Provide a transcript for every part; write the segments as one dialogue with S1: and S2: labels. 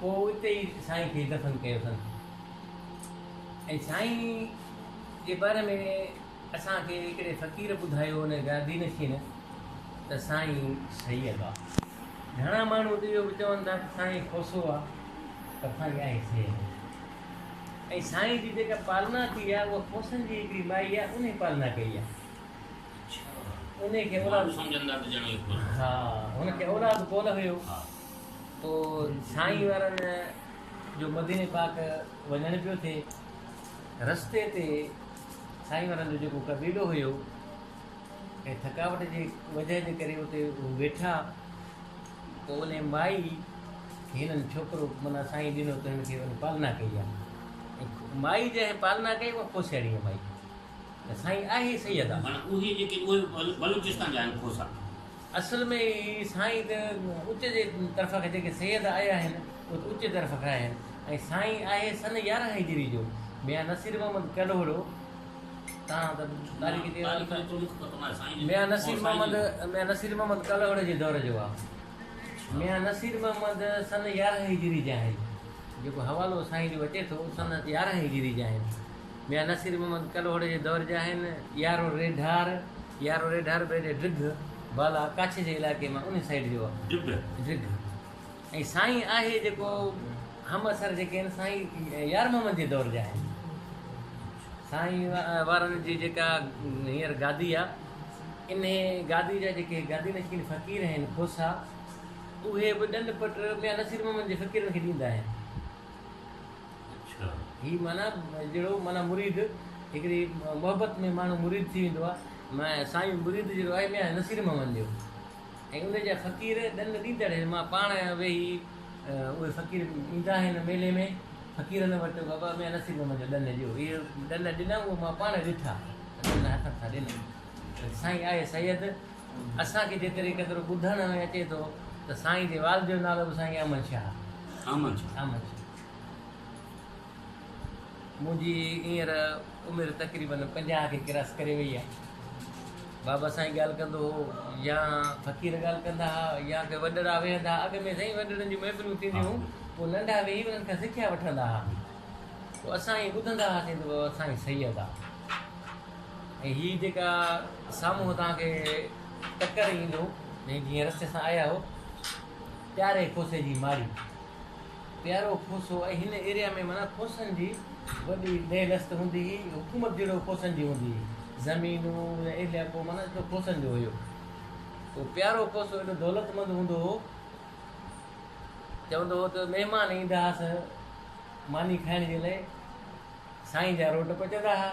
S1: پوء اتي ئي سائين کي دفن ڪيوسن ۽ سائين جي باري ۾ اسان کي هڪڙي فقير ٻڌايو ان گادي نشين ته سائين سيد آ گهڻا ماڻهو ته اهو به چون ٿا ته سائين کوسو آ پر سائين آهي سيد ۽ سائين جي جيڪا پالنا ٿي آ اها کوسن جي هڪڙي مائي آ انهي پالنا ڪئي آ انهي کي اولاد سمجهندا
S2: ته ڄڻ اهي کوسو
S1: ها هن کي اولاد ڪونه هيو
S2: پوء
S1: سائين وارن جو مديني پاڪ وڃڻ پيو ٿئي. رستي تي سائين وارن جو جيڪو قبيلو هيو ۽ ٿڪاوٽ جي وجهه جي ڪري اتي هو ويٺا. پوء انهي مائي کي هنن ڇوڪرو معنيٰ سائين ڏنو ته هن کي ان پالنا ڪئي آ. ۽ مائي جنهن پالنا ڪئي اها کوسياڻي مائي ته سائين آهي سيد آ. معنيٰ اهي جيڪي اهي
S2: بلوچستان جا آهن کوسا. اصل ۾
S1: اهي سائين ته اچ جي طرف کان جيڪي سيد آيا آهن اهي ته اچ طرف کان آهن ۽ سائين آهي سن يارهن هجري جو ميان نصير محمد ڪلهوڙو تان ته تاريخ جي حوالي سان ميان نصير محمد ميان نصير محمد ڪلهوڙي جي دور جو آهي ميان نصير محمد سن يارهن هجري جا آهن جيڪو حوالو سائين جو اچي ٿو سن يارهن هجري جا آهن ميان نصير محمد ڪلهوڙي جي دور جا آهن. يارو ريڍار، يارو ريڍار بيري ڊگهه، بالا ڪاڇي جي علائقي مان ان سائيڊ جو آهي. ڊگهه. ڊگهه ۽ سائين آهي جيڪو همعصر جيڪي آهن سائين يار محمد جي دور جا آهن. سائين وارن جي جيڪا هينئر گادي آهي انهي گادي جا جيڪي گادي نشين فقير آهن کوسا اهي به ڏنڊ پٽ ميان نصير محمد جي فقيرن کي ڏيندا آهن. هي معنيٰ جهڙو معنيٰ مريد هڪڙي محبت ۾ ماڻهو مريد ٿي ويندو آهي معنيٰ سائين مريد جهڙو آهي ميان نصير محمد جو ۽ ان جا فقير ڏن ڏيندڙ هن مان پاڻ ويهي اهي فقير ايندا آهن ميلي ۾ فقيرن وٽ بابا ميان نصير محمد جو ڏن ڏيو اهي ڏن ڏنا اهي مان پاڻ ڏٺا ڏن هٿن سان ڏنا سائين آهي سيد اسان کي جيتري قدر ٻڌڻ ۾ اچي ٿو ته سائين جي والد جو نالو به سائين احمد شاهه احمد شاهه احمد شاهه منهنجي هينئر عمر تقريبن پنجاهه کي ڪراس ڪري وئي آهي بابا سائين ڳالهه ڪندو هو يا فقير ڳالهه ڪندا هئا يا ڪي وڏڙا ويهندا هئا اڳ ۾ سائين وڏڙن جون محفلون ٿينديون هيون پوء ننڍا ويهي انهن کان سکيا وٺندا هئا پوء اسان ائين ٻڌندا هئاسين ته بابا سائين سيد آهي ۽ هي جيڪا سامهون توهان کي ٽڪر ايندو ۽ جيئن رستي سان آيا هو پياري کوسي جي ماڙي پيارو کوسو ۽ هن ايريا ۾ معنيٰ کوسن جي وڏي لهه لست هوندي هي حڪومت جهڙو کوسن جي هوندي هي زمينون يا علائقو معنيٰ ايترو کوسن جو هيو تو پيارو کوسو ايڏو دولتمند هوندو هو چوندو هو ته مهمان ايندا هئس ماني کائڻ جي لاء سائين جا روٽ پچندا هئا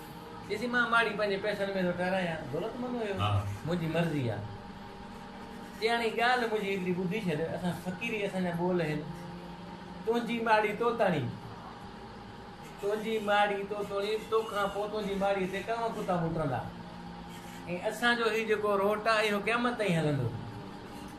S1: ڏسي مان ماڙي پنهنجي پئسن ۾ ٿو ٺهرايان، دولتمند هيو، منهنجي مرضي آ. چياڻي ڳالهه منهنجي هيتري ٻڌي ڇڏ، اسان فقيري اسان جا ٻول هن، تنهنجي ماڙي توتاڻي، تنهنجي ماڙي توتوڻي، تو کان پوء تنهنجي ماڙي تي ڪاوه ڪتا موٽندا ۽ اسان جو هي جيڪو روٽ آ اهو قيامت تائين هلندو.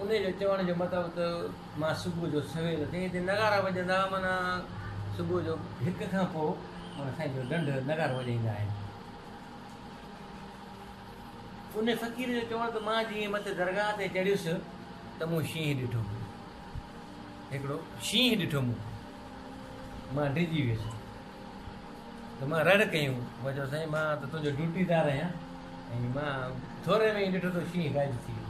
S1: انهيء جو چوڻ جو مطلب ته مان صبح جو سويل اٿي هتي نغارا وڄندا معنيٰ صبح جو هڪ کان پوء معنيٰ سائين جو ڍنڍ نغارو وڄائيندا آهن. انهيء فقير جو چوڻ ته مان جيئن مٿي درگاهه تي چڙهيس ته مون شينهن ڏٺو. هڪڙو شينهن ڏٺو مون. مان ڊڄي ويس. ته مان رڙ ڪيم. مون چيو سائين مان ته تنهنجو ڊيوٽيدار آهيان ۽ مان ٿوري ۾ ئي ڏٺو ته شينهن غائب ٿي ويو.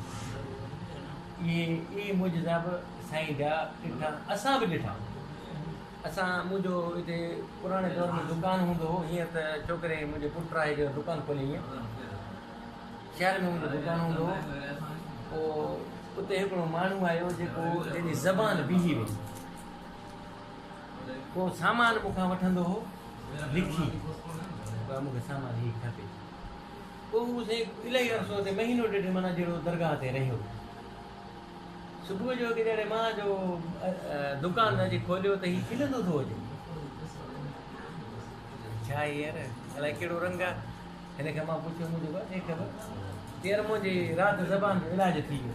S1: اهي اهي معجزا به سائين جا ڏٺا اسان به ڏٺا. اسان منهنجو هتي پراڻي دور ۾ دڪان هوندو هو هينئر ته ڇوڪري منهنجي پٽ آهي جنهن دڪان کولي هينئر شهر ۾ منهنجو دڪان هوندو هو پوء اتي هڪڙو ماڻهو آيو جيڪو جنهن جي زبان بيهي وئي. ڪو سامان مون کان وٺندو هو لکي ڀاء مون کي سامان هي کپي پوء هو سائين الائي عرصو تي مهينو ڏيڍ مانا جهڙو درگاهه تي رهيو صبح جو هڪ جهڙي مان جو دڪان اڄ کوليو ته هي کلندو ٿو اچي ڇا يار الائي ڪهڙو رنگ آهي هن کي مان پڇيو مون چيو بس هي خبر يار منهنجي رات زبان جو علاج ٿي ويو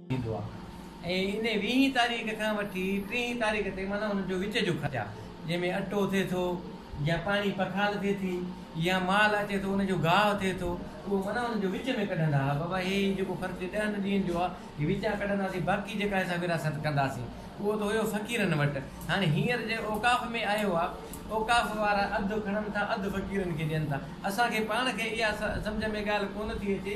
S1: ٿيندو آهي ۽ ان ويهين تاريخ کان وٺي ٽيهين تاريخ تائين معنيٰ ان جو وچ جو خرچ آهي جنهن ۾ اٽو ٿئي ٿو يا پاڻي پکال ٿئي ٿي يا مال اچي ٿو ان جو گاهه ٿئي ٿو اهو معنيٰ ان جو وچ ۾ ڪڍندا ها بابا هي جيڪو خرچ ڏهن ڏينهن جو آهي هي وچان ڪڍنداسين باقي جيڪا اسان وراثت ڪنداسين اهو ته هيو فقيرن وٽ هاڻي هينئر جي اوقاف ۾ آيو آهي اوقاف وارا اڌ کڻن ٿا اڌ فقيرن کي ڏين ٿا اسان کي پاڻ کي اها سمجهه ۾ ڳالهه ڪونه ٿي اچي